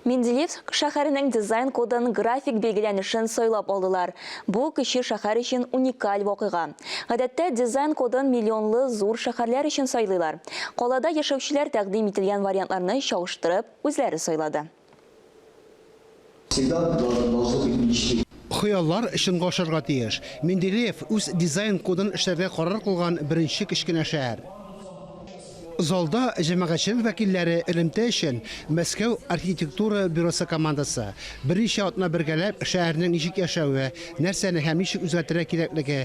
Менделеевск шәһәренең дизайн кодын, график билгеләнешен сайлап алдылар. Бу, кече шәһәр өчен уникаль вакыйга. Гадәттә, дизайн кодын миллионлы зур шәһәрләр өчен сайлыйлар. Калада яшәүчеләр тәкъдим ителгән вариантларны чагыштырып, үзләре сайлады. Всегда должны должны быть мечты. Хыяллар чынга ашарга тиеш. Менделеев үз дизайн кодын эшләргә карар кылган беренче кечкенә шәһәр. Залда җәмәгатьчелек вәкилләре элемтә өчен Мәскәү архитектура бюросы командасы, берничә атна бергәләп шәһәрнең ничек яшәве, нәрсәне һәм ничек үзгәртергә кирәклеге,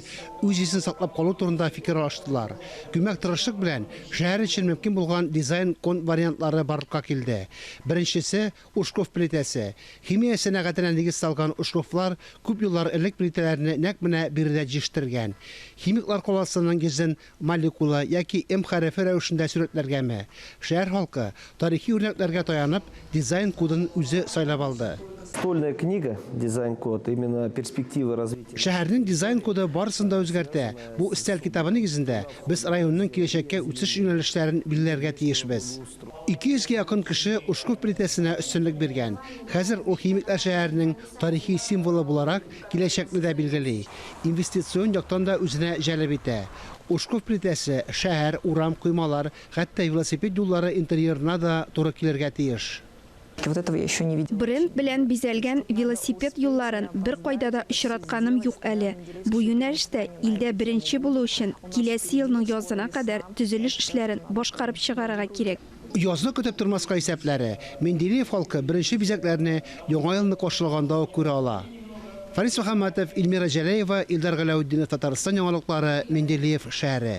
үз исен саклап калу турында фикер алыштылар. Күмәк тырышлык белән шәһәр өчен мөмкин булган дизайн кон вариантлары барлыкка килде. Беренчесе, Ушков плитәсе. Химия сәнәгатенә нигез салган Ушковлар күп еллар элек плитәләрне нәкъ менә биредә җиштергән. Химиклар каласының йөзен молекула яки М хәрефе рәвешендә сурәтләргәме, шәһәр халкы, тарихи үрнәкләргә таянып, дизайн кодын үзе сайлап алды. Школьная книга, дизайн код, именно перспективы развития. Шәһәрнең дизайн коды барысын да үзгәртә. Бу өстәл китабы нигезендә без районның киләчәккә үсеш юнәлешләрен билгеләргә тиешбез. 200 гә якын кеше Ушков плитәсенә өстенлек биргән. Хәзер ул химиклар шәһәренең тарихи символы буларак Киләчәкне дә билгели, инвестицион яктан да үзенә җәлеп итә. Ушков плитәсе шәһәр, урам, коймалар, хәтта велосипед юллары интерьерына да туры килергә тиеш. Бренд белән бизәлгән велосипед юлларын беркайда да очратканым юк әле. Бу юнәлештә илдә беренче булу өчен, киләсе елның язына кадәр төзелеш эшләрен башкарып чыгарырга кирәк. Язны көтеп тормаска исәпләре. Менделеев халкы беренче бизәкләрне Яңа елны каршылаганда ук күрә ала. Фарис Мөхәммәтов, Ильмира Җәләева, Илдар Галәүтдинов Татарстан яңалыклары Менделеев шәһәре.